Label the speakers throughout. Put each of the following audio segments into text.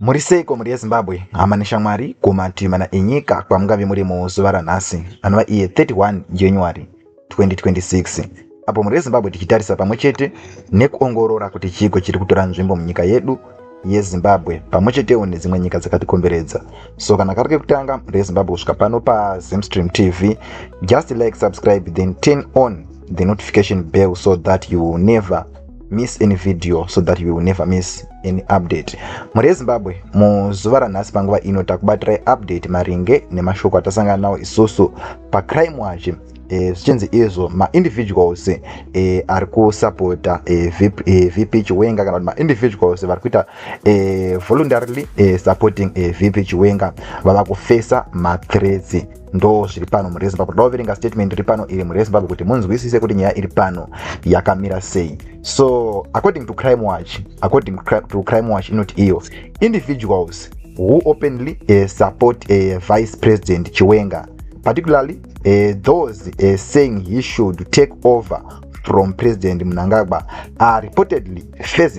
Speaker 1: muri seiko mhuri yezimbabwe hama neshamwari kumativi mana enyika kwamungave muri muzuva ranhasi anova iye 31 january 2026 apo mhuri yezimbabwe tichitarisa pamwe chete nekuongorora kuti chiiko chiri kutora nzvimbo munyika yedu yezimbabwe pamwe chetewo nedzimwe nyika dzakatikomberedza so kana kari kekutanga mhuri yezimbabwe kusvika pano pazimstream tv just like subscribe then turn on the notification bell so that you will never miss any video so that you will never miss any update mhuri yezimbabwe muzuva ranhasi panguva ino takubatirai update maringe nemashoko atasangana nawo isusu pacrime wachi eh, zvichinzi e, izvo maindividuals e, eh, ari kusapota e, eh, vp, e, vp chiwenga kana kuti maindividuals vari kuita e, voluntarily e, supporting e, vp chiwenga vava kufesa mathreats ndo zviri pano murezimbabwe toda kuverenga statement iri pano iri murezimbabwe kuti munzwisise kuti nyaya iri pano yakamira sei so according to crime watch according to crime watch inoti iyo individuals who openly uh, support uh, vice president chiwenga particularly uh, those uh, saying he should take over from president mnangagwa are reportedly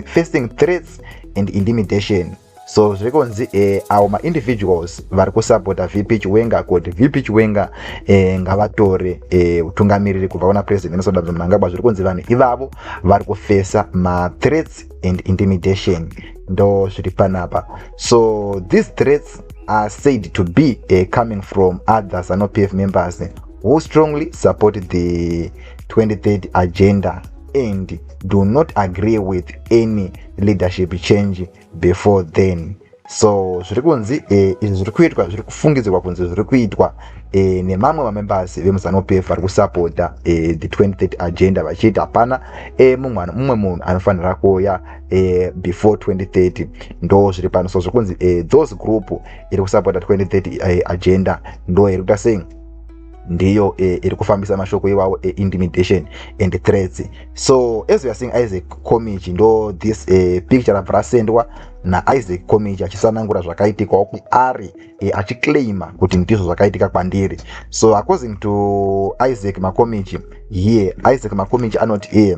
Speaker 1: facing threats and intimidation so zviri kunzi eh, avo maindividuals vari kusapota vp chiwenga kuti vp chiwenga eh, ngavatore eh, utungamiriri eh, kubva kuna president emerson damza mnangagwa zviri kunzi vanhu ivavo vari kufesa mathreats and intimidation ndo zviri panapa so these threats are said to be uh, coming from other zanu pf members who strongly support the 23rd agenda and do not agree with any leadership change before then so zviri kunzi eh, izvi zviri kuitwa zviri kufungidzirwa kunzi zviri kuitwa eh, nemamwe mamembers vemuzanu pf vari kusapota eh, the 23 agenda vachiti hapana mumwe munhu anofanira kuuya before 2030 ndo zviri pano so zviri kunzi those group iri kusapota 2030 agenda ndo iri kuita sei ndiyo eh, iri kufambisa mashoko iwawo eintimidation eh, and threats so as we are seeing isaac comage ndo this eh, picture rabva rasendwa naisaac comage achisanangura zvakaitikawo kuari eh, achiclaima kuti ndizvo zvakaitika kwandiri so according to isaac macomage here isaac macomage anoti here eh,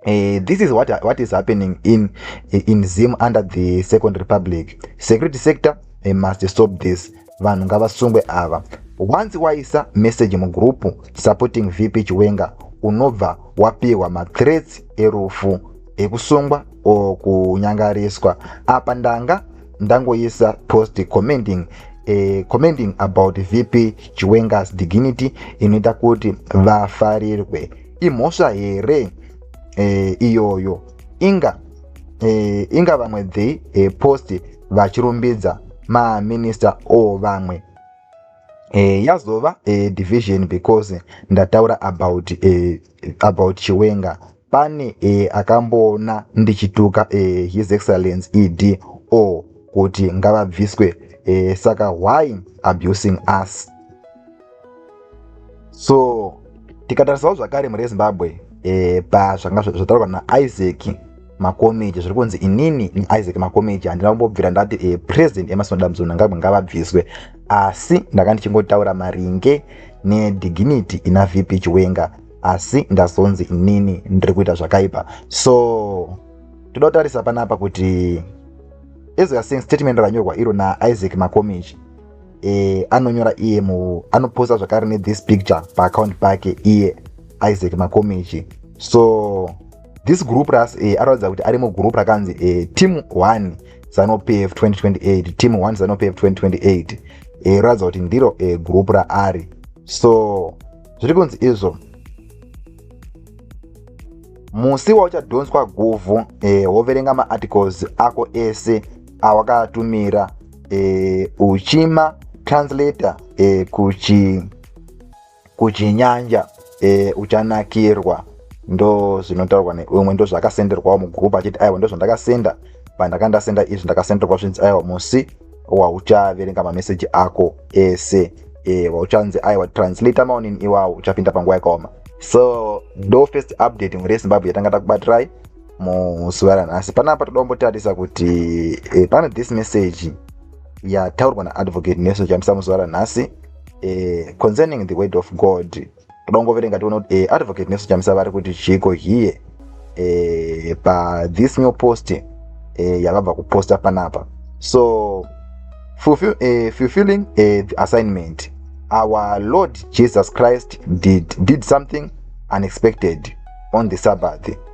Speaker 1: Uh, this is what, what is happening in, in Zim under the Second Republic. Security sector uh, must stop this. vanhu ngavasungwe ava once waisa message mugroup supporting vp chiwenga unobva wapihwa mathreats erufu ekusungwa o kunyangariswa apa ndanga ndangoisa post commenting eh, commenting about vp chiwengas dignity inoita kuti vafarirwe imhosva here eh, iyoyo inga e, inga vamwe the e, post vachirumbidza maminista o vamwe e, yazova e, division because ndataura about, e, about chiwenga pane e, akamboona ndichituka e, his excellence ed o kuti ngavabviswe e, saka why abusing us so tikatarisawo zvakare mhuri yezimbabwe eh, pazvanga zvataurwa naisaac makomeji zviri kunzi inini niisaac makomeji handina kumbobvira ndati eh, president emasinoda mzonangagwe ngavabviswe asi ndanga ndichingotaura maringe nedignity ina vp chiwenga asi ndazonzi inini ndiri kuita zvakaipa so toda kutarisa panapa kuti as weare saying statement ranyorwa iro naisaac makomeji e, anonyora iye mu anoposta zvakare nethis picture paaccount pake iye isaac makomichi so this group ras e, aratidza kuti ari mugroup rakanzi e, team 1 zanopf 2028 team 1 zanopf 2028 e, ratidza kuti ndiro e, group raari so zviri kunzi izvo musi wauchadhonswa guvhu e, woverenga maarticles ako ese awakatumira e, uchima translator e, kuchi kuchinyanja e, uchanakirwa ndo zvinotaurwa neumwe ndo zvakasenderwawo mugroup achiti aiwa ndo zvandakasenda pandaka ndasenda izvi ndakasenderwa zvinzi aiwa musi wauchaverenga mameseji ako ese e, wauchanzi aiwa translator maonini iwawo uchapinda panguva yakaoma so ndo first update mhuri yezimbabwe yatanga takubatirai muzuva ranhasi panapa toda kumbotarisa kuti eh, pane this message yataurwa naadvocate nelson chamisa muzuva ranhasi eh, concerning the word of god toda kungoverenga tiona kuti eh, advocate nelson chamisa vari kuti chiiko here eh, pathis new post eh, yavabva kuposta panapa so fulfill, eh, fulfilling eh, the assignment our lord jesus christ did, did something unexpected on the sabbath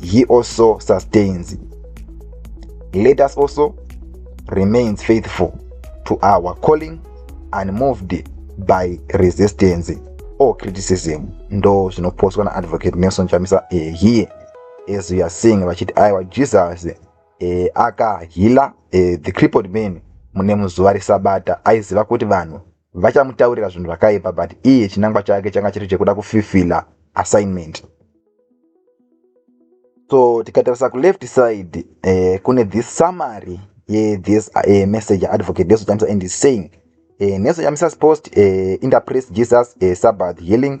Speaker 1: he also sustains let us also remains faithful to our calling and moved by resistance or criticism ndo zvinopostwa naadvocate nelson chamisa eh, here as we are seeing vachiti aiwa jesus eh, akahila eh, the crippled man mune muzuva resabata aiziva kuti vanhu vachamutaurira zvinhu zvakaipa but iye chinangwa chake changa chiri chekuda kufifila assignment so tikatarisa kuleft side eh, kune this summary yethis eh, message advocate neso chamisa and saying eh, neso chamisa's post eh, interpret jesus eh, sabbath healing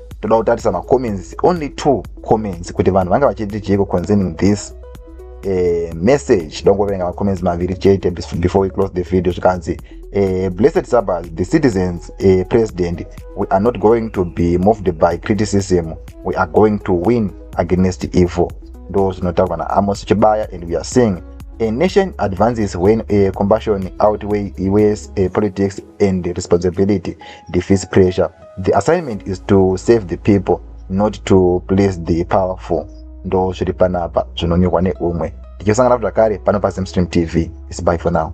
Speaker 1: toda kutarisa macomments only two comments kuti vanhu vanga vachiti chiiko concerning this uh, message dongoverenga macomments maviri chete before we close the video zvikanzi uh, blessed sabbath the citizens uh, president we are not going to be moved by criticism we are going to win against evil ndo zvinotaurwa naamos chibaya and we are seeing a nation advances when a compassion outweigh iwes a politics and responsibility defeats pressure The assignment is to save the people not to please the powerful. Ndo zviri panapa zvinonyorwa neumwe. Tichosangana zvakare pano paZimstream TV. It's bye for now.